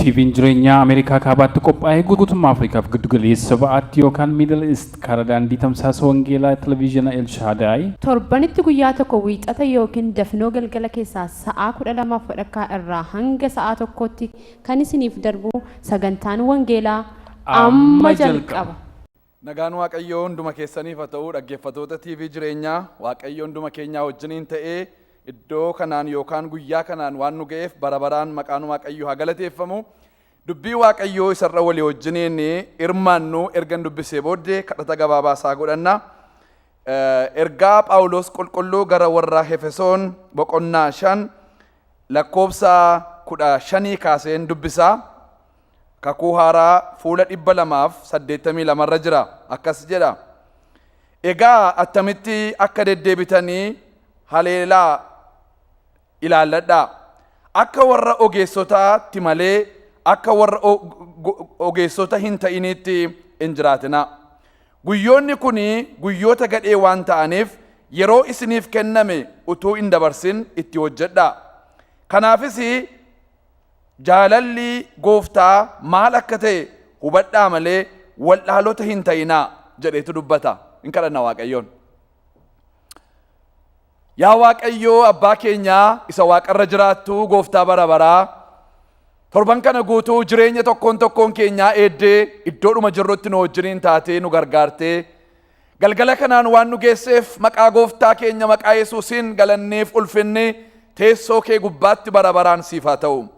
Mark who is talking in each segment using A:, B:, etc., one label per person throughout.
A: TVn jireenyaa Ameerikaa Kaabaatti qophaa'ee guutummaa Afrikaaf Giddugaleessa Ba'aatti yookaan Middle East karaa daandii tamsaasa wangeelaa Televiizhina El Shaadaay, Torbanitti guyyaa
B: tokko Wiixata ykn dafinoo galgala keessaa sa'aa 12f wadhakkaa irraa hanga sa'aa tokkootti kan isiniif darbu sagantaan wangeelaa amma jalqaba. Nagaan
C: waaqayyoo hunduma keessaniif ha ta'uu dhaggeeffatoota TV jireenyaa waaqayyo hunduma keenyaa wajjiniin ta'ee iddoo kanaan yookaan guyyaa kanaan waan nu ga'eef bara baraan maqaan waaqayyoo haa galateeffamu. Dubbii waaqayyoo isarra walii wajjiniin hirmaannu ergan dubbisee booddee kadhata gabaabaa isaa godhanna. Ergaa Phaawulos qulqulluu gara warra Hefesoon boqonnaa shan lakkoofsa kudha shanii kaaseen dubbisaa. Kakuu Haaraa fuula 282 irra jira. Akkas jedha. Egaa attamitti akka deddeebitanii haleelaa ilaalladhaa. Akka warra ogeessotaatti malee akka warra ogeessota hin ta'iniitti hin jiraatinaa. Guyyoonni kun guyyoota gadhee waan ta'aniif yeroo isiniif kenname utuu hin dabarsin itti hojjedhaa. Kanaafis Jaalalli Gooftaa maal akka ta'e hubadhaa malee wallaalota hin ta'inaa jedheetu dubbata. Hin kadhanna Waaqayyoon. Yaa Waaqayyoo abbaa keenyaa isa waaqarra jiraattu gooftaa bara baraa torban kana guutuu jireenya tokkoon tokkoon keenyaa eeddee iddoodhuma jirrutti nu wajjiniin taatee nu gargaartee Galgala kanaan waan nu geesseef maqaa gooftaa keenya maqaa Yesuusiin galanniif ulfinni teessoo kee gubbaatti bara baraan siif haa ta'u.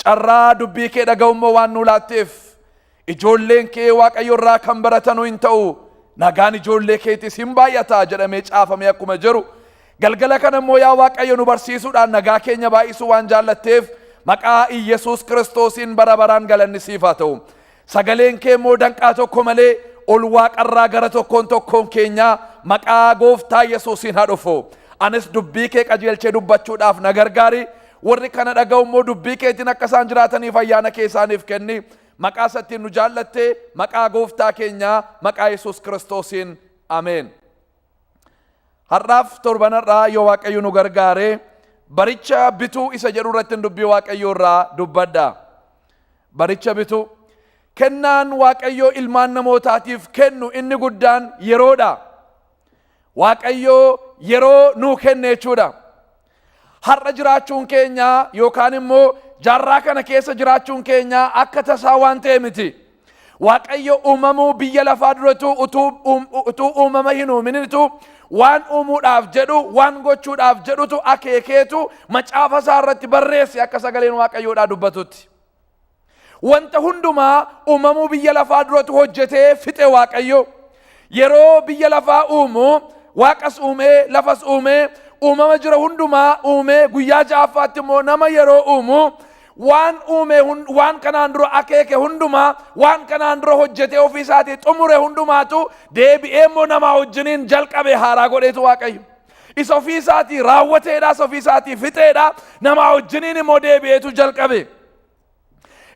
C: Carraa dubbii kee dhaga'u immoo waan nuu laatteef ijoolleen kee waaqayyo irraa kan baratanu hin ta'u nagaan ijoollee keetis hin baay'ata jedhamee caafamee akkuma jiru galgala kana immoo yaa waaqayyo nu barsiisuudhaan nagaa keenya baay'isuu waan jaallatteef maqaa Iyyasuus Kiristoosiin bara baraan galanni siif haa ta'u. Sagaleen kee immoo danqaa tokko malee ol waaqarraa gara tokkoon tokkoon keenyaa maqaa gooftaa Yesuusiin haa dhufu. Anis dubbii kee qajeelchee dubbachuudhaaf na gargaari. Warri kana dhaga'u immoo dubbii keetiin akka isaan jiraataniif ayyaana kee isaaniif kenni. Maqaa isattiin nu jaallattee maqaa gooftaa keenyaa maqaa Yesuus Kiristoosiin. Ameen. Har'aaf torban har'aa yoo Waaqayyo nu gargaare baricha bituu isa jedhu irratti dubbii Waaqayyoo irraa dubbadha. Baricha bituu. Kennaan Waaqayyoo ilmaan namootaatiif kennu inni guddaan yeroodha. Waaqayyoo yeroo nuu kenne jechuudha. Har'a jiraachuun keenya yookaan immoo jaarraa kana keessa jiraachuun keenya akka tasaa waan ta'e miti. Waaqayyo uumamuu biyya lafaa duratu utuu uum- utuu uumama hin uuminitu waan uumuudhaaf jedhu waan gochuudhaaf jedhutu akeekeetu macaafa isaa irratti barreesse akka sagaleen Waaqayyoodhaa dubbatutti. Wanta hundumaa uumamuu biyya lafaa duratu hojjetee fixe Waaqayyo. Yeroo biyya lafaa uumu waaqas uumee lafas uumee uumama jira hundumaa uumee guyyaa ja'affaatti immoo nama yeroo uumu waan uume hun- waan kanaan dura akeeke hundumaa waan kanaan dura hojjetee ofii isaatii xumure hundumaatu deebi'ee immoo namaa wajjiniin jalqabe haaraa godheetu Waaqayyo. Isa ofii isaatii raawwateedha, isa ofii isaatii fixeedha, namaa wajjiniin immoo deebi'eetu jalqabe.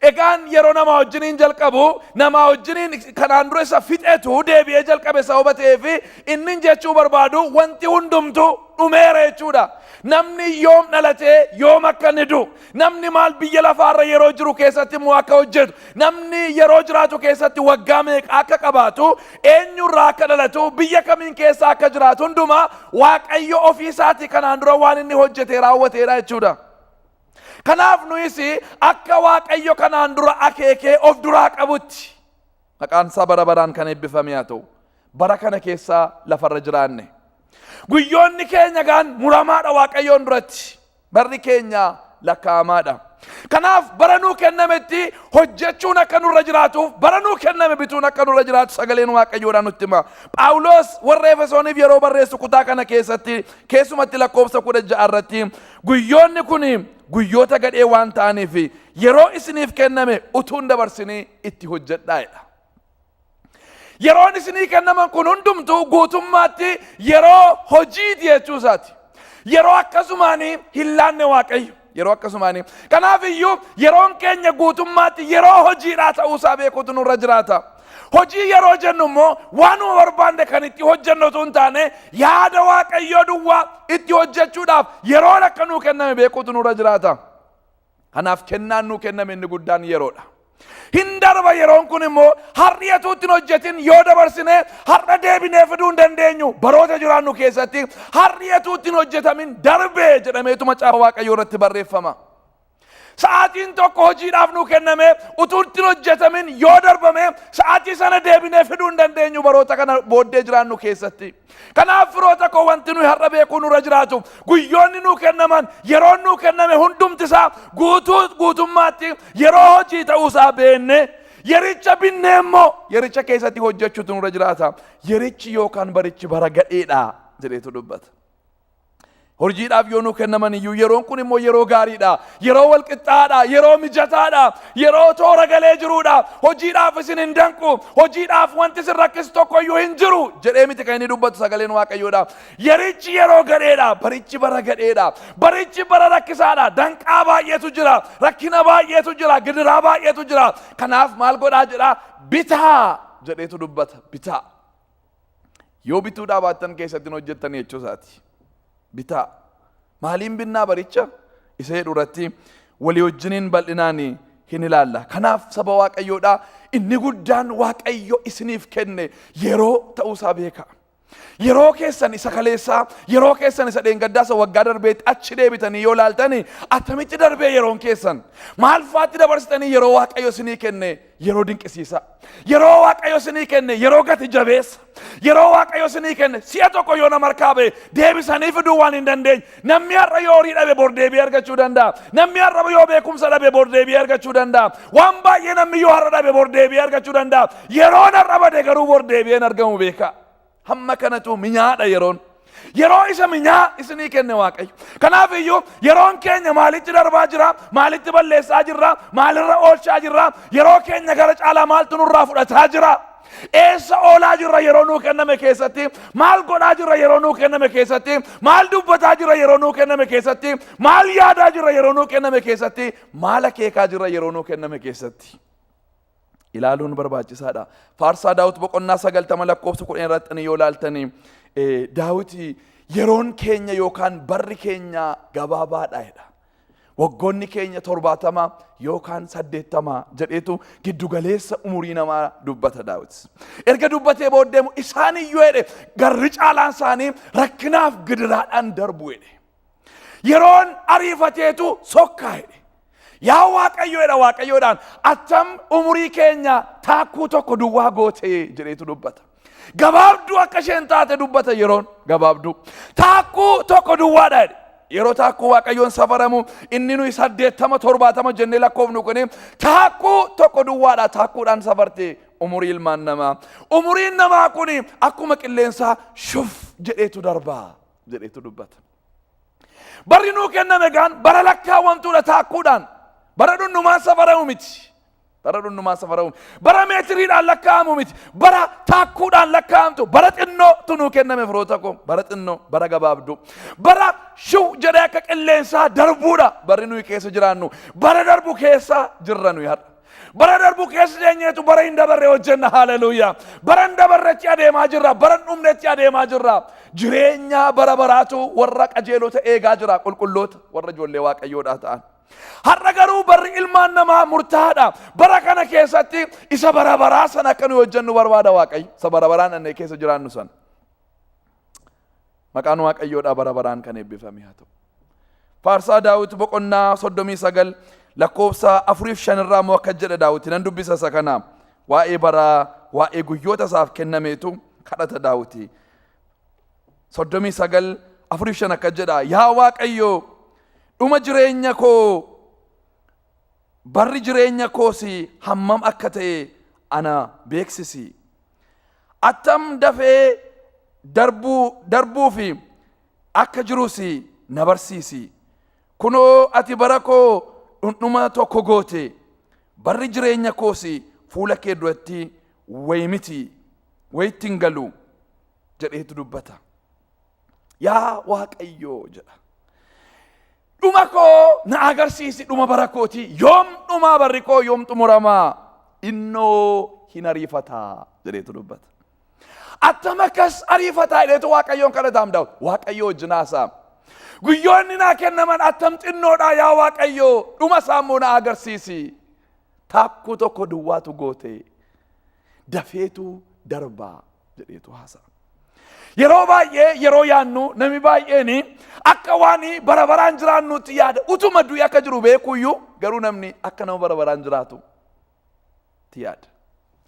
C: Egaan yeroo namaa wajjiniin jalqabu, namaa wajjiniin kanaan dura isa fixetu deebi'ee jalqabe sababa ta'eef inni jechuu barbaadu wanti hundumtu dhumeera jechuudha. Namni yoom dhalatee yoom akka inni du'u, Namni maal biyya lafaarra yeroo jiru keessatti immoo akka hojjetu, namni yeroo jiraatu keessatti waggaa meeqa akka qabaatu, eenyurraa akka dhalatu, biyya kamiin keessa akka jiraatu hundumaa Waaqayyo ofii isaatii kanaan dura waan inni hojjetee raawwateedha jechuudha. Kanaaf nuyis akka Waaqayyo kanaan dura akeekee of duraa qabutti maqaan isaa bara baraan kan eebbifame haa ta'u. Bara kana keessa lafarra jiraanne. Guyyoonni keenya gaan muramaadha Waaqayyoon duratti. Barri keenya lakkaa'amaadha. Kanaaf bara nuu kennametti hojjechuun akka nurra jiraatuuf bara nuu kenname bituun akka nurra jiraatu sagaleen Waaqayyoodhaan nutti hima. Phaawulos warra Efesooniif yeroo barreessu kutaa kana keessatti keessumatti lakkoofsa kudha ja'a irratti guyyoonni kun guyyoota gadhee waan ta'aniif yeroo isiniif kenname utuun dabarsinii itti hojjedhaa jedha. Yeroon isinii kennaman kun hundumtuu guutummaatti yeroo hojiiti jechuu isaati. Yeroo akkasumaan hin laanne waaqayyo. Yeroo akkasumaan. Kanaaf iyyuu yeroon keenya guutummaatti yeroo hojiidhaa ta'uu isaa beekuutu nurra jiraata. Hojii yeroo jennu immoo waanuma barbaanne kan itti hojjennu osoo hin taane yaada waaqayyoo duwwaa itti hojjechuudhaaf yeroon akka nuu kenname beekuutu nurra jiraata. Kanaaf kennaan nuu kenname inni guddaan yeroodha. Hin darba yeroon kun immoo har'i utuu ittiin hojjetin yoo dabarsine har'a deebinee fiduu hin dandeenyu. Baroota jiraannu keessatti har'i utuu ittiin hojjetamin darbe jedhameetu macaafa Waaqayyoo irratti barreeffama. Sa'aatiin tokko hojiidhaaf nuu kenname utuu ittiin hojjetamin yoo darbame sa'aatii sana deebinee fiduu hin dandeenyu baroota kana booddee jiraannu keessatti. Kanaaf firoota koo wanti nuyi har'a beekuu nurra jiraatu guyyoonni nuu kennaman yeroon nuu kenname hundumti isaa guutuu guutummaatti yeroo hojii ta'uu isaa beenne yericha binnee immoo yericha keessatti hojjechuutu nurra jiraata. Yerichi yookaan barichi bara gadheedha jedheetu dubbata. Hojiidhaaf yoo nuu kennaman iyyuu yeroon kun immoo yeroo gaariidha. Yeroo walqixxaadha. Yeroo mijataadha. Yeroo toora galee jiruudha. Hojiidhaaf isin hin danqu. Hojiidhaaf wanti isin rakkisu tokko iyyuu hin jiru. Jedhee miti kan inni dubbatu sagaleen Waaqayyoodha. Yerichi yeroo gadheedha. Barichi bara gadheedha. Barichi bara rakkisaadha. Danqaa baay'eetu jira. Rakkina baay'eetu jira. Gidiraa baay'eetu jira. Kanaaf maal godhaa jedhaa? Bitaa jedheetu dubbata. Bitaa. Yoo bituu dhaabaattan keessatti hin hojjettan jechuu isaati. Bitaa. Maaliin binnaa baricha? Isa jedhu irratti walii wajjiniin bal'inaan hin ilaalla. Kanaaf saba Waaqayyoodhaa inni guddaan Waaqayyo isiniif kenne yeroo ta'uu isaa beeka. Yeroo keessan isa kaleessaa, yeroo keessan isa dheengaddaa isa waggaa darbeetti achi deebitanii yoo laaltani attamitti darbee yeroon keessan? Maal faatti dabarsitanii yeroo Waaqayyo isinii kenne Yeroo dinqisiisaa. Yeroo waaqayyo isinii kenne yeroo gati jabeessa. Yeroo waaqayyo isinii kenne si'a tokko yoo nama harkaa ba'e deebisanii fiduu waan hin dandeenye. Namni har'a yoo horii dhabe bor deebi'ee argachuu danda'a. Namni har'a yoo beekumsa dhabe bor deebi'ee argachuu danda'a. Waan baay'ee namni yoo har'a dhabe bor deebi'ee argachuu danda'a. Yeroon har'a bade garuu bor deebi'ee hin argamu beekaa. Hamma kanatu minyaadha yeroon. Yeroo isa minyaa isinii kenne Waaqayyo. Kanaaf iyyuu yeroon keenya maalitti darbaa jira, maalitti balleessaa jirra, maalirra oolchaa jirra, yeroo keenya gara caalaa maaltu nurraa fudhataa jira. Eessa oolaa jirra yeroo nuu kenname keessatti, maal godhaa jirra yeroo nuu kenname keessatti, maal dubbataa jirra yeroo nuu kenname keessatti, maal yaadaa jirra yeroo nuu kenname keessatti, maal akeekaa jirra yeroo nuu kenname keessatti. ilaaluun barbaachisaadha. Faarsaa Daawit boqonnaa sagaltama lakkoofsa kudhan irratti yoo ilaaltanii Daawit yeroon keenya yookaan barri keenya gabaabaadha jedha. Waggoonni keenya torbaatama yookaan saddeettama jedheetu giddugaleessa umurii namaa dubbata Daawit. Erga dubbatee booddee immoo isaan iyyuu jedhe garri caalaan isaanii rakkinaaf gidiraadhaan darbu jedhe. Yeroon ariifateetu sokkaa jedhe. Yaa Waaqayyoodha Waaqayyoodhaan attam umurii keenya taakkuu tokko duwwaa gootee jedheetu dubbata. Gabaabduu akka isheen taate dubbata yeroon gabaabduu. Taakkuu tokko duwwaadha jedhe. Yeroo taakkuu Waaqayyoon safaramu inni nuyi saddeettama torbaatama jennee lakkoofnu kuni taakkuu tokko duwwaadha taakkuudhaan safarte umurii ilmaan namaa. Umuriin namaa kuni akkuma qilleensaa shuf jedheetu darbaa. jedheetu dubbata. Barri nuu kenname egaan bara lakkaawwamtuudha taakkuudhaan. Bara dhunnumaan safaramu miti. Bara dhunnumaan safaramu miti. Bara meetiriidhaan lakkaa'amu miti. Bara taakkuudhaan lakkaa'amtu. Bara xinnootu nuu kenname firoota koo. Bara xinnoo, bara gabaabduu. Bara shiw jedhee akka qilleensaa darbuudha. Barri nuyi keessa jiraannu. Bara darbu keessa jirra nuyi har'a. Bara darbu keessa deenyeetu bara hin dabarre hojjenna haleluuyaa. Bara hin dabarretti adeemaa jirra, bara hin dhumnetti adeemaa jirra. Jireenya bara baraatu warra qajeelota eegaa jira, qulqulloota warra ijoollee waaqayyoodhaa ta'an. Har'a garuu barri ilmaan namaa murtaa'aadha. Bara kana keessatti isa bara baraa sana akka nuyi hojjennu barbaada waaqayyo. Isa bara baraan annee keessa jiraannu sana. Maqaan Waaqayyoodhaa bara baraan kan eebbifame haa ta'u. Faarsaa Daawit boqonnaa 39 lakkoofsa 4 fi 5 irraa immoo akka jedha Daawit nan dubbisa isa kana waa'ee baraa waa'ee guyyoota isaaf kennameetu kadhata Daawiti. 39 4 fi 5 akka jedha yaa Waaqayyo dhuma jireenya koo barri jireenya koos hammam akka ta'e ana beeksisi. Attam dafee darbuu darbuufi akka jirus na barsiisi. Kunoo ati bara koo dhundhuma tokko goote, barri jireenya koos fuula kee duratti wayi miti, wayitti hin galu jedheetu dubbata. yaa waaqayyoo jedha dhuma koo na agarsiisi dhuma bara kooti yoom dhumaa barri koo yoom xumuramaa innoo hin ariifataa jedheetu dubbata attam akkas ariifataa jedheetu waaqayyoon kadhataam daawit waaqayyoo wajjin haasaam guyyoonni naa kennaman attam xinnoodhaa yaa waaqayyoo dhuma isaa immoo na agarsiisi taakkuu tokko duwwaatu goote dafeetu darbaa jedheetu haasa'a. Yeroo baay'ee yeroo yaannu nami baay'een akka waan bara baraan jiraannutti yaada utuma du'i akka jiru beekuyyuu garuu namni akka nama bara baraan jiraatu itti yaada.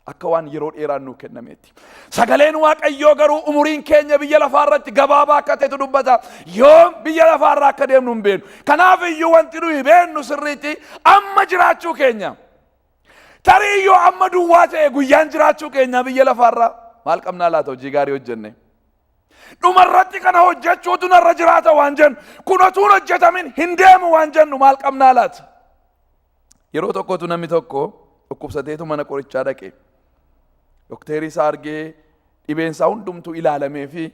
C: Akka waan yeroo dheeraan nuu kennameetti. Sagaleen Waaqayyoo garuu umuriin keenya biyya lafaa irratti gabaabaa akka ta'etu dubbata. Yoom biyya lafaa irraa akka deemnu hin beeknu. Kanaaf iyyuu wanti nuyi beeknu sirriitti amma jiraachuu keenya. Tarii yoo amma duwwaa ta'e guyyaan jiraachuu keenyaa biyya lafaarraa maal qabnaa laata hojii gaarii hojjenne. Dhumarratti kana hojjechuutu narra jiraata waan jennu kun otuun hojjetamin hin deemu waan jennu maal qabnaa laata. Yeroo tokkotu namni tokko dhukkubsateetu mana qorichaa dhaqe. Dokteerii isaa argee dhibeen isaa hundumtuu ilaalamee fi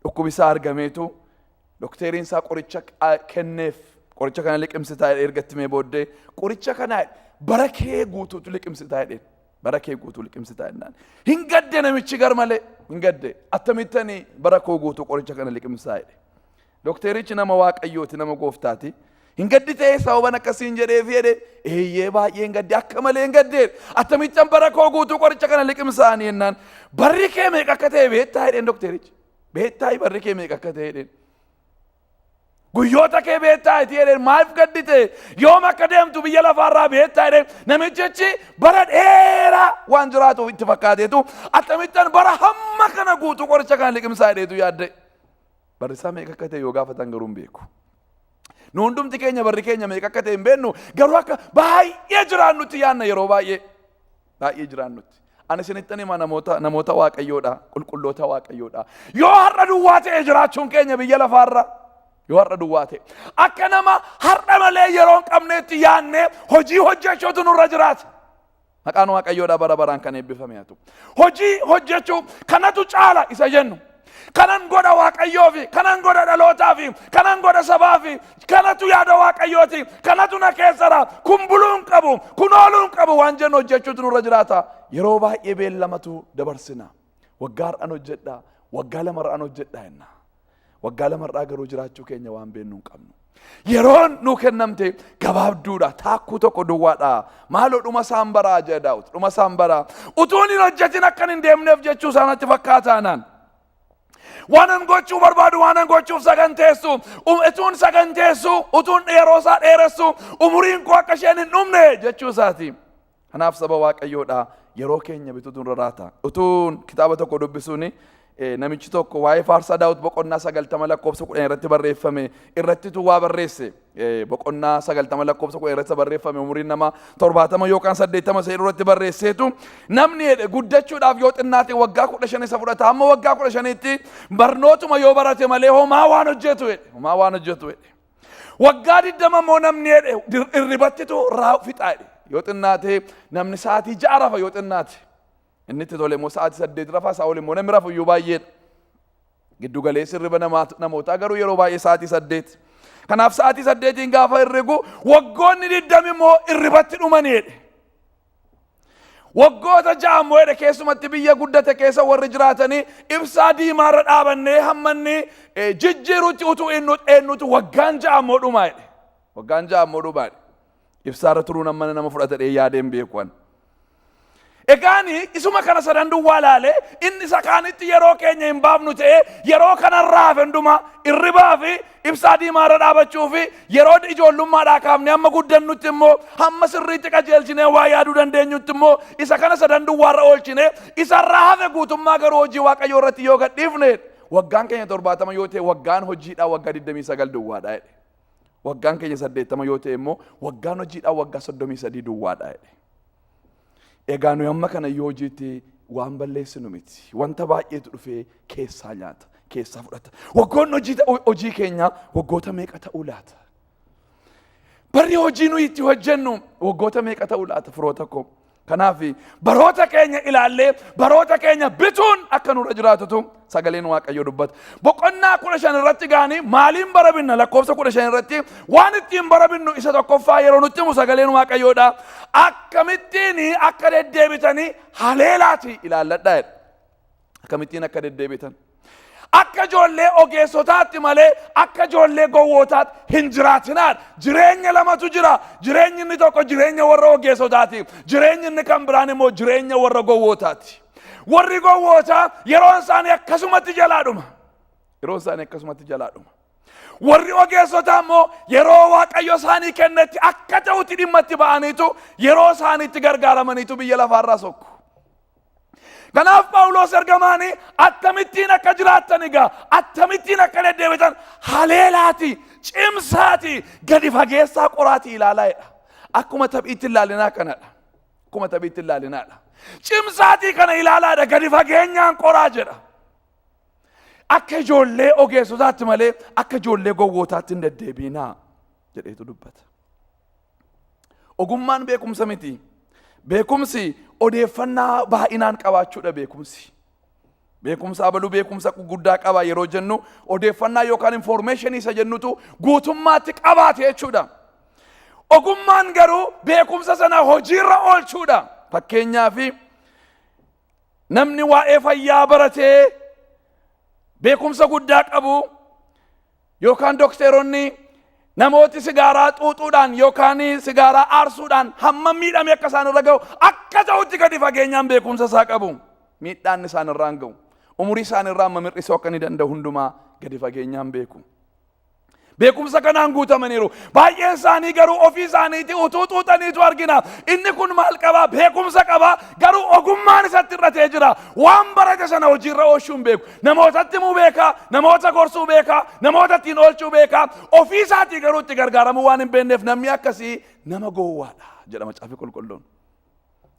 C: dhukkubi isaa argameetu Dokteeriin isaa qoricha kenneef qoricha kana liqimsitaa jedhee erga itti mee booddee qoricha kana bara kee guutuutu liqimsitaa jedheen. Bara kee guutuu liqimsitaa jennaan. Hin gadde namichi gar malee hin gadde attamittan bara koo guutuu qoricha kana liqimsaa jedhe. Dokteerichi nama waaqayyooti nama gooftaati. Hin gaddi ta'ee sababan akkasiin jedheef jedhe eeyyee baay'ee hin gadde akka malee hin gadde attamittan bara koo guutuu qoricha kana liqimsaanii jennaan barri kee meeqa akka ta'e beektaa jedheen dokteerichi. Beettaayi barri kee meeqa akka ta'e jedheen. Guyyoota kee beettaayi itti jedheen maaf gaddite yoom akka deemtu biyya lafaarraa beettaayi jedheen namichichi bara dheeraa waan jiraatuuf itti fakkaateetu akkamittan bara hamma kana guutuu qoricha kana liqimsaa jedheetu yaadde. Barri isaa meeqa akka ta'e yoo gaafatan garuu hin beeku. Nu hundumti keenya barri keenya meeqa akka ta'e hin beeknu garuu akka baay'ee jiraannutti yaanna yeroo baay'ee baay'ee jiraannutti. Ani isinittan hima namoota namoota waaqayyoodha qulqulloota waaqayyoodha. Yoo har'a duwwaa ta'e jiraachuun keenya biyya lafaarra yoo har'a duwwaa ta'e akka nama har'a malee yeroo hin qabneetti yaannee hojii hojjechuutu nurra jiraata. Maqaan Waaqayyoodhaa bara baraan kan eebbifame haa ta'u. Hojii hojjechuu kanatu caala isa jennu. Kanan godha Waaqayyoo fi kanan godha dhalootaa fi kanan godha sabaa fi kanatu yaada Waaqayyooti kanatu na keessara kun buluu hin qabu kun ooluu hin qabu waan jennu hojjechuutu nurra jiraata. Yeroo baay'ee beellamatu dabarsinaa. Waggaa har'an hojjedhaa, waggaa lama har'an hojjedhaa jenna. Waggaa lama har'aa garuu jiraachuu keenya waan beeknu hin qabnu. Yeroon nuu kennamte gabaabduudha. Taakkuu tokko duwwaadha. Maaloo dhuma isaan baraa jedha Daawit. Dhuma isaan baraa. Utuun hin hojjetin akkan hin deemneef jechuu isaanatti fakkaataanaan. Waanan gochuu barbaadu waanan gochuuf saganteessu um- utuun saganteessu utuun yeroo isaa dheeressu umuriin koo akka isheen hin dhumne jechuu isaati. Kanaaf saba waaqayyoodha yeroo keenya bituutu irra raata. Utuun kitaaba tokko dubbisuun eh, namichi tokko waa'ee faarsaa daawwit boqonnaa sagaltama lakkoofsa kudhan irratti barreeffame irrattitu waa barreesse. Eh, Boqonnaa sagaltama lakkoofsa kudhan irratti barreeffame umuriin nama torbaatama yookaan saddeettama isa irratti barreesseetu namni jedhe guddachuudhaaf yoo xinnaate waggaa kudha shan isa fudhata amma waggaa kudha shaniitti barnootuma yoo barate malee homaa waan hojjetu jedhe. Homaa waan hojjetu jedhe. Waggaa digdama immoo namni jedhe dir- irribattitu raa fixaa jedhe. Yoo xinnaate namni sa'aatii ja'a rafa yoo xinnaate. Inni itti tole immoo sa'aatii saddeet rafa isaa ol immoo namni rafu iyyuu baay'eedha. Giddu galeessi hirriba namaa- namootaa garuu yeroo baay'ee sa'aatii saddeet. Kanaaf sa'aatii saddeetiin gaafa hirrigu waggoonni digdami immoo irribatti dhumani jedhe. Waggoota ja'a immoo jedhe keessumatti biyya guddate keessa warri jiraatanii ibsaa diimaarra dhaabannee hammanni eh, jijjiirutti utuu eenyu- eenyutu waggaan ja'a immoo dhumaa jedhe. Waggaan ja'a immoo dhumaa jedhe. Ibsaarra turuun hammana nama fudhata dhee yaadeen beeku ani. Egaani isuma kana sadan duwwaa laale inni isa kaanitti yeroo keenya hin baafnu ta'e yeroo kanarraa hafe hundumaa irribaa fi Ibsaa diimaa irra dhaabachuu fi yeroo ijoollummaadhaa kaafnee hamma guddannutti immoo hamma sirriitti qajeelchinee waa yaaduu dandeenyutti immoo isa kana sadan duwwaa irra oolchine isa irraa hafe guutummaa garuu hojii waaqayyoo irratti yoo gadhiifne waggaan keenya torbaatama yoo ta'e waggaan hojiidhaa waggaa 29 duwwaadha jedhe. Waggaan keenya saddeettama yoo ta'e immoo waggaan hojiidhaa waggaa 33 duwwaadha jedhe. Egaa nuyi amma kana yoo hojiitti waan balleessinu miti. Wanta baay'eetu dhufee keessaa nyaata, keessaa fudhata. Waggoonni hojii, hojii keenyaa waggoota meeqa ta'uu laata? Barri hojii nuyi itti hojjennu waggoota meeqa ta'uu laata firoota koo? Kanaaf baroota keenya ilaallee baroota keenya bituun akka nurra jiraatutu sagaleen waaqayyoo dubbata. Boqonnaa kudha shan irratti gaanii maaliin barabinna lakkoofsa kudha shan irratti waan ittiin barabinnu isa tokkoffaa yeroo nutti himu sagaleen waaqayyoodha. Akkamittiin akka deddeebitanii haleelaati ilaalladha jedha. Akkamittiin akka deddeebitan. Akka ijoollee ogeessotaatti malee akka ijoollee gowwootaatti hin jiraatinaan jireenya lamatu jira. Jireenyi inni tokko jireenya warra ogeessotaati. Jireenyi inni kan biraan immoo jireenya warra gowwootaati. Warri gowwootaa yeroon isaanii akkasumatti jalaa dhuma. Yeroon isaanii akkasumatti jalaa dhuma. Warri ogeessotaa immoo yeroo waaqayyo isaanii kennetti akka ta'utti dhimma itti ba'aniitu yeroo isaaniitti gargaaramaniitu biyya lafaarraa sokku. Kanaaf Phaawulos ergamaanii akkamittiin akka jiraattan egaa akkamittiin akka deddeebitan haleelaati cimsaati gadi fageessaa qoraatii ilaalaa jedha. Akkuma taphiitti ilaalinaa kanadha. Akkuma taphiitti ilaalinaadha. Cimsaatii kana ilaalaadha gadi fageenyaan qoraa jedha. Akka ijoollee ogeessotaatti malee akka ijoollee gowwootaatti hin deddeebiinaa jedheetu dubbata. Ogummaan beekumsa miti. Beekumsi odeeffannaa baay'inaan qabaachuudha beekumsi. Beekumsa abaluu beekumsa guddaa qaba yeroo jennu odeeffannaa yookaan infoormeeshinii isa jennutu guutummaatti qabaate jechuudha. Ogummaan garuu beekumsa sana hojiirra oolchuudha. Fakkeenyaaf namni waa'ee fayyaa baratee beekumsa guddaa qabu Yookaan dokteeronni namooti sigaaraa xuuxuudhaan yookaan sigaaraa aarsuudhaan hammam miidhamee akka isaan irra ga'u akka ta'utti gadi fageenyaan beekumsa isaa qabu. Miidhaan isaan irraan ga'u. Umurii isaan irraa amma mir'isuu akka ni danda'u hundumaa gadi fageenyaan beeku. Beekumsa kanaan guutamaniiru. Baay'een isaanii garuu ofii isaaniitii utuu xuuxaniitu argina. Inni kun maal qabaa? Beekumsa qabaa. Garuu ogummaan isatti irratee jira. Waan barate sana hojiirra oolchuun beeku. Namootatti himuu beeka, namoota gorsuu beeka, namoota ittiin oolchuu beeka, ofii isaatii garuu itti gargaaramuu waan hin beekneef namni akkasii nama gowwaadha jedha Macaafni Qulqulluun.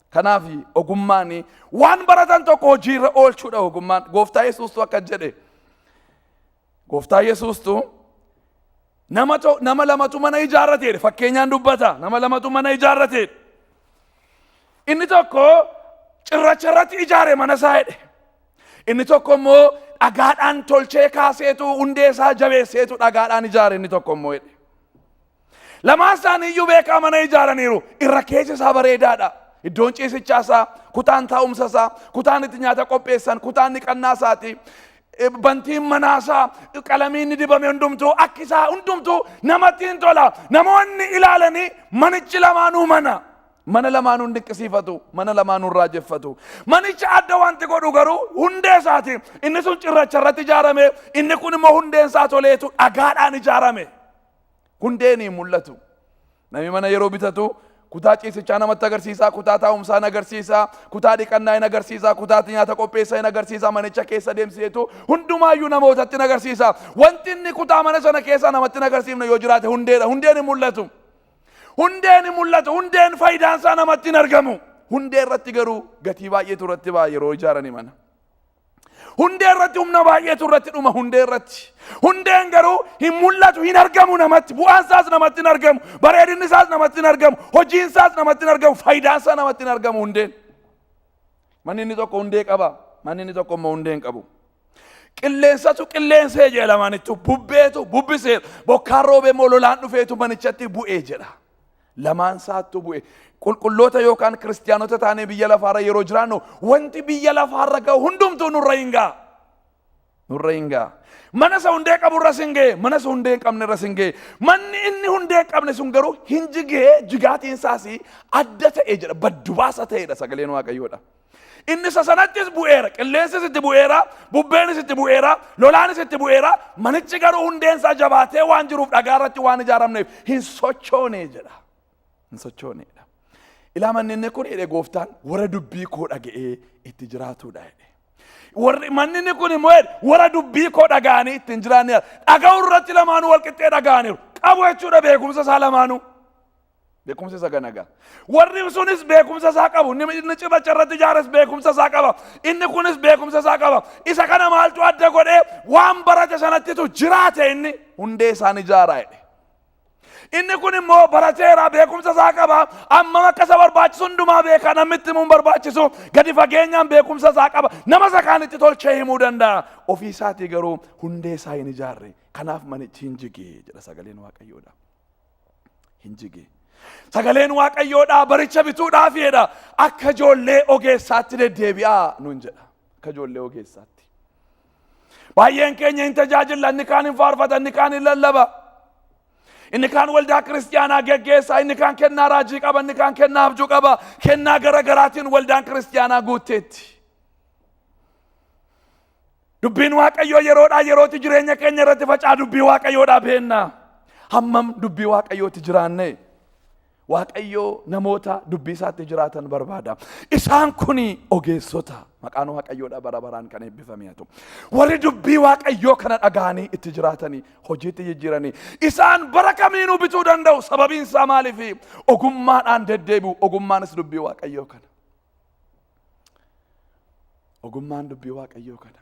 C: Kanaaf ogummaan waan baratan tokko hojiirra oolchuudha ogummaan. Gooftaa Yesuustu akka jedhe. Gooftaa Yesuustu Nama to, nama lamatu mana ijaarrate jedhe fakkeenyaan dubbata nama lamatu mana ijaarrate jedhe. Inni tokko cirracha irratti ijaare mana isaa jedhe. Inni tokko immoo dhagaadhaan tolchee kaaseetu hundee isaa jabeesseetu dhagaadhaan ijaare inni tokko immoo jedhe. Lamaan isaanii iyyuu beekaa mana ijaaraniiru irra keessa isaa bareedaadha. Iddoon ciisichaa isaa, kutaan taa'umsa isaa, kutaan itti nyaata qopheessan, kutaan dhiqannaa isaati. Bantiin manaasaa qalamiin ni dibame hundumtuu akki isaa hundumtuu namatti hin tola. Namoonni ilaalanii manichi lamaanuu mana. Mana lamaanuu hin dinqisiifatu. Mana lamaanuu hin raajeffatu. Manicha adda wanti godhu garuu hundee isaati. Inni sun cirracha irratti ijaarame inni kun immoo hundeen isaa toleetu dhagaadhaan ijaarame. Hundeen hin mul'atu. Namni mana yeroo bitatu kutaa ciisichaa namatti agarsiisa, kutaa taa'umsaa hin agarsiisa, kutaa dhiqannaa hin agarsiisa, kutaa itti nyaata qopheessa hin agarsiisa, manicha keessa deemsiseetu hundumaayyuu namootatti hin agarsiisa. Wanti inni kutaa mana sana keessaa namatti hin agarsiifne yoo jiraate hundeedha. Hundeen hin mul'atu. Hundeen hin mul'atu. Hundeen faayidaan isaa namatti hin argamu. Hundee irratti garuu gatii baay'eetu irratti ba'a yeroo ijaarani mana. Hundee irratti humna baay'eetu irratti dhuma hundee irratti. Hundeen garuu hin mul'atu hin argamu namatti bu'aan isaas namatti hin argamu bareedinni isaas namatti hin argamu hojiin isaas namatti hin argamu faayidaan isaa namatti hin argamu hundeen. Manni inni tokko hundee qaba manni inni tokko immoo hundee hin qabu. Qilleensatu qilleensee jedha lamaanittu bubbeetu bubbiseera bokkaan roobee immoo lolaan dhufeetu manichatti bu'ee jedha. Lamaan isaattuu bu'e. Qulqulloota yookaan kiristiyaanota taanee biyya lafaarra yeroo jiraannu wanti biyya lafaarra ga'u hundumtuu nurra hin ga'a. Nurra hin ga'a. Mana isa hundee qabu irras hin ga'e, mana isa hundee hin qabne irras hin ga'e. Manni inni hundee hin qabne sun garuu hin jigee jigaatiin isaas adda ta'e jedha, baddu baasa ta'edha sagaleen Waaqayyoodha. Inni isa sanattis bu'eera, qilleensis itti bu'eera, bubbeenis itti bu'eera, lolaanis itti bu'eera, manichi garuu hundeen isaa jabaatee waan jiruuf dhagaa irratti waan ijaaramneef hin sochoone jedha. Hin sochooneedha. Ilaa manni inni kun jedhe gooftaan warra dubbii koo dhaga'ee itti jiraatudha jedhe. Warri manni inni kun immoo jedhe warra dubbii koo dhaga'anii ittiin jiraanneera. Dhaga'uu irratti lamaanuu walqixxee dhaga'aniiru. Qabu jechuudha beekumsa isaa lamaanuu. Beekumsi isa kana egaa. Warri sunis beekumsa isaa qabu. Inni inni cirracha irratti ijaares beekumsa isaa qaba. Inni kunis beekumsa isaa qaba. Isa kana maaltu adda godhee waan barate sanattitu jiraate inni hundee isaan ijaaraa jedhe. Inni kun immoo barateera beekumsa isaa qaba. Ammam akka isa barbaachisu hundumaa beeka namni itti himuun barbaachisu gadi fageenyaan beekumsa isaa qaba. Nama isa kaanitti tolchee himuu danda'a. Ofii isaatii garuu hundee isaa hin ijaarre. Kanaaf manichi hin jige jedha sagaleen Waaqayyoodha. hin jige. Sagaleen Waaqayyoodhaa baricha bituudhaaf jedha akka ijoollee ogeessaatti deddeebi'aa nuun jedha. Akka ijoollee ogeessaatti. Baay'een keenya hin tajaajilla inni kaan hin faarfata inni kaan hin lallaba. Inni kaan waldaa kiristiyaanaa geggeessaa inni kaan kennaa raajii qaba inni kaan kennaa abjuu qaba kennaa gara garaatiin waldaan kiristiyaanaa guutteetti. Dubbiin Waaqayyoo yeroodhaa yerootti jireenya keenya irratti facaa dubbii Waaqayyoodhaa beenna. Hammam dubbii Waaqayyootti jiraanne. Waaqayyoo namoota dubbii isaatti jiraatan barbaada. Isaan kun ogeessota. Maqaan Waaqayyoodhaa bara baraan kan eebbifame haa ta'u. Warri dubbii Waaqayyoo kana dhaga'anii itti jiraatanii hojiitti jijjiiranii isaan bara kamiinuu bituu danda'u. Sababiin isaa maaliif? Ogummaadhaan deddeebi'u. Ogummaanis dubbii Waaqayyoo kana. Ogummaan dubbii Waaqayyoo kana.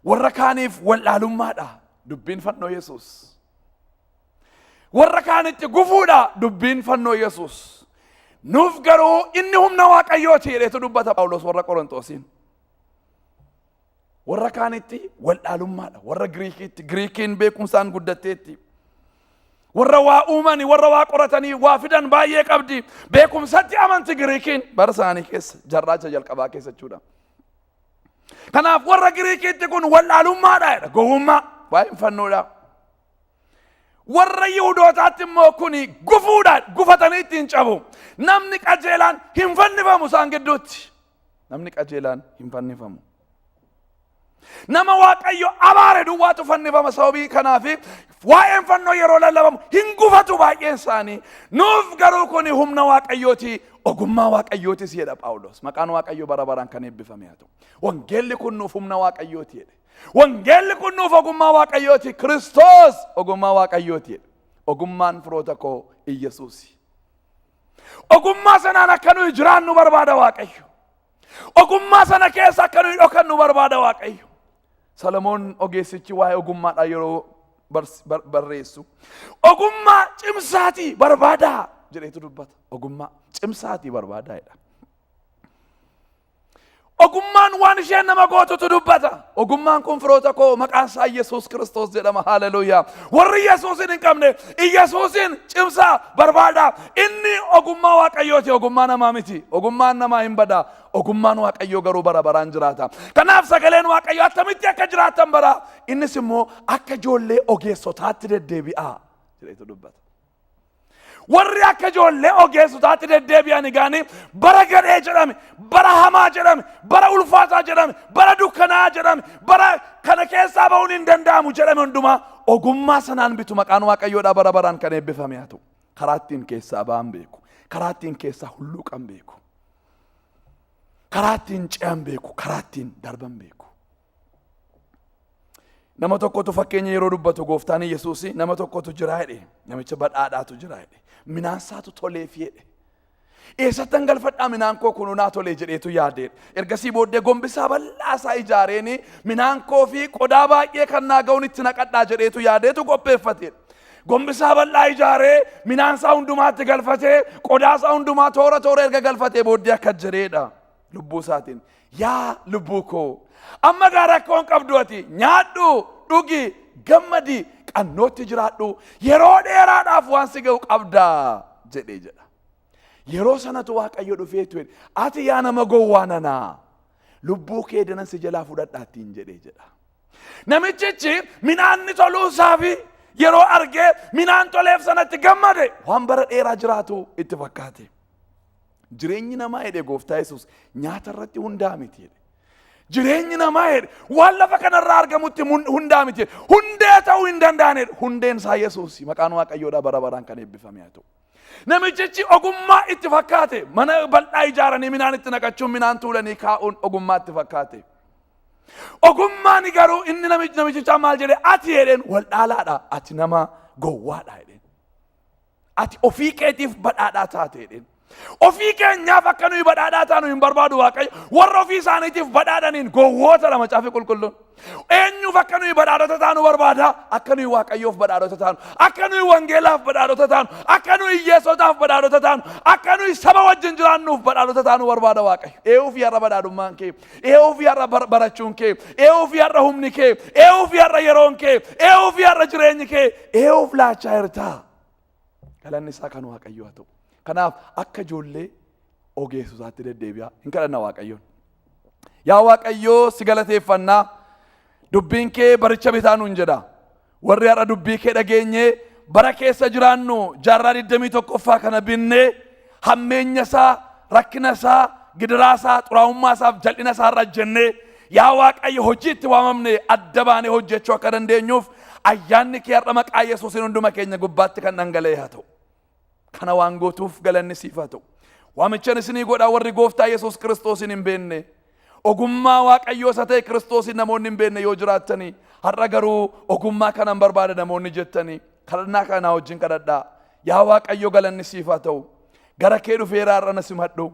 C: Warra kaaniif wallaalummaadha dubbiin fannoo Yesuus. Warra kaanitti gufuudha dubbiin fannoo Yesuus. Nuuf garuu inni humna Waaqayyooti jedhetu dubbata Phaawulos warra Qorontoosiin. Warra kaanitti wallaalummaadha. Warra Giriikiitti Giriikiin beekumsaan guddatteetti. Warra waa uumanii, warra waa qoratanii, waa fidan baay'ee qabdi. Beekumsatti amanti Giriikiin bara isaanii keessa, jarraacha jalqabaa keessa jechuudha. Kanaaf warra Giriikiitti kun wallaalummaadha jedha. Gowwummaa waa'een fannoodha. Warra Yihudootaatti immoo kuni gufuudhaan gufatanii ittiin cabu. Namni qajeelaan hin fannifamu isaan gidduutti. Namni qajeelaan hin fannifamu. Nama Waaqayyo abaare duwwaatu fannifama sababii kanaaf waa'een fannoo yeroo lallabamu hin gufatu baay'een isaanii. Nuuf garuu kun humna Waaqayyooti ogummaa Waaqayyootis jedha Phaawulos. Maqaan Waaqayyo bara baraan kan eebbifame haa ta'u. Wangeelli kun nuuf humna Waaqayyooti jedhe. Wangeelli kun nuuf ogummaa Waaqayyooti. Kiristoos ogummaa Waaqayyooti jedhe. Ogummaan firoota koo Iyyasuusi. Ogummaa sanaan akka nuyi jiraannu barbaada Waaqayyo. Ogummaa sana keessa akka nuyi dhokannu barbaada Waaqayyo. Salamoon ogeessichi waa'ee ogummaadhaa yeroo bars- bar- barreessu. Ogummaa cimsaatii barbaadaa jedheetu dubbata. Ogummaa cimsaatii barbaadaa jedha. Ogummaan waan isheen nama gootutu dubbata. Ogummaan kun firoota koo maqaan isaa Yesuus Kiristoos jedhama. Haaleluyyaa. Warri Yesuusin hin qabne Yesuusin cimsaa barbaada. Inni ogummaa Waaqayyooti ogummaa namaa miti. Ogummaan namaa hin bada. Ogummaan Waaqayyoo garuu bara baraan jiraata. Kanaaf sagaleen Waaqayyoo attamitti akka jiraatan bara. Innis immoo akka ijoollee ogeessotaatti deddeebi'a. Jedheetu dubbata. warri akka ijoollee ogeessotaatti deddeebi'an egaanii bara gadhee jedhame bara hamaa jedhame bara ulfaataa jedhame bara dukkanaa jedhame bara kana keessaa ba'uun hin danda'amu jedhame hundumaa ogummaa sanaan bitu maqaan waaqayyoodhaa bara baraan kan eebbifame haa ta'u karaa ittiin keessaa ba'an beeku karaa ittiin keessaa hulluuqan beeku karaa ittiin ce'an beeku karaa ittiin darban beeku Nama tokkotu fakkeenya yeroo dubbatu gooftaan Yesuus nama tokkotu jira jedhe. Namicha badhaadhaatu jira jedhe. Minaan isaatu toleef jedhe. Eessattan galfadhaa minaan koo kun naa tolee jedheetu yaadee. Ergasii booddee gombisaa bal'aa isaa ijaareen minaan koo fi qodaa baay'ee kan naa ga'uun itti naqadhaa jedheetu yaadeetu qopheeffate. Gombisaa bal'aa ijaaree minaan isaa hundumaatti galfatee qodaa isaa hundumaa toora toora erga galfatee booddee akka jedheedha. lubbuu isaatiin yaa lubbuu koo amma gaa rakkoon qabdu ati nyaadhu dhugi gammadi qannootti jiraadhu yeroo dheeraadhaaf waan si ga'u qabda jedhee jedha. Yeroo sanatu waaqayyo dhufee ture ati yaa nama gowwaa nanaa lubbuu kee danan si jalaa fudhadhaattiin jedhee jedha. Namichichi midhaanni toluu isaa fi yeroo argee midhaan toleef sanatti gammade waan bara dheeraa jiraatu itti fakkaate. Jireenyi namaa jedhe gooftaa Yesuus nyaata irratti hundaa miti jedhe. Jireenyi namaa jedhe waan lafa kanarraa argamutti mun- hundaa miti jedhe. Hundee ta'uu hin danda'ane hundeen isaa Yesuus maqaan waaqayyoodhaa bara baraan kan eebbifame haa ta'u. Namichichi ogummaa itti fakkaate mana bal'aa ijaaranii minaan itti naqachuun minaan tuulanii kaa'uun ogummaa itti fakkaate. Ogummaan garuu inni namichi- namichichaa maal jedhe ati jedheen wal dhaalaadha ati nama gowwaadha jedheen. Ati ofii keetiif badhaadhaa taateedheen. Ofii keenyaaf akka nuyi badhaadhaa taanu hin barbaadu Waaqayyo. Warra ofii isaaniitiif badhaadhaniin gowwoota dha macaafni qulqulluun. Eenyuuf akka nuyi badhaadhota taanu barbaada? Akka nuyi Waaqayyoof badhaadhota taanu, akka nuyi wangeelaaf badhaadhota taanu, akka nuyi hiyyeessotaaf badhaadhota taanu, akka nuyi saba wajjin jiraannuuf badhaadhota taanu barbaada Waaqayyo. Eewuuf yarra badhaadhummaan kee. Ee'uu fi har'a bar- barachuun kee, ee'uu fi har'a humni kee, ee'uu fi har'a yeroon kee, ee'uu fi har'a jireenyi kee, ee'uuf laachaa jirtaa. Galanni isaa kan Waaqayyoo haa ta'u. Kanaaf akka ijoollee ogeessotaatti deddeebi'aa hin kadhanna Waaqayyoon. Yaa Waaqayyoo si galateeffannaa dubbiin kee baricha bitaa nuun jedha. Warri har'a dubbii kee dhageenyee bara keessa jiraannu jaarraa 21ffaa kana binne hammeenya isaa, rakkina isaa, gidiraa isaa, xuraa'ummaa isaaf jal'ina isaa irra jennee yaa Waaqayyo hojii itti waamamne adda baanee hojjechuu akka dandeenyuuf ayyaanni kee har'a maqaa Yesuusiin hunduma keenya gubbaatti kan dhangala'e haa ta'u. Kana waan gootuuf galanni siif haa ta'u. Waamichan isinii godhaa warri gooftaa Yesuus Kiristoosiin hin beenne ogummaa Waaqayyoo isa ta'e Kiristoosiin namoonni hin beenne yoo jiraattanii har'a garuu ogummaa kanan barbaada namoonni jettanii kadhannaa kana naa wajjin kadhadhaa. Yaa Waaqayyo galanni siif haa ta'u. Gara kee dhufeera har'a na simadhu.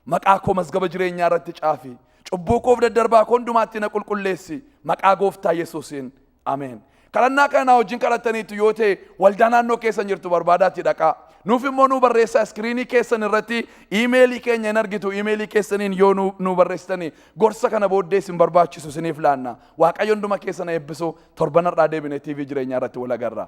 C: Maqaa koo mazgaba jireenyaa irratti caafi. Cubbuu koof daddarbaa koo hundumaatti na qulqulleessi. Maqaa gooftaa Yesuusiin. Ameen. Kadhannaa kana naa wajjin kadhattaniitu yoo ta'e waldaa naannoo keessan jirtu barbaadaatti dhaqaa. Nuuf immoo nuu barreessaa iskiriinii keessan irratti iimeelii keenya hin argitu iimeelii keessaniin yoo nuu nuu barreessitani gorsa kana booddee isin barbaachisu isiniif laanna. Waaqayyo hunduma keessan eebbisu torban har'aa deebinee TV jireenyaa irratti wal agarra.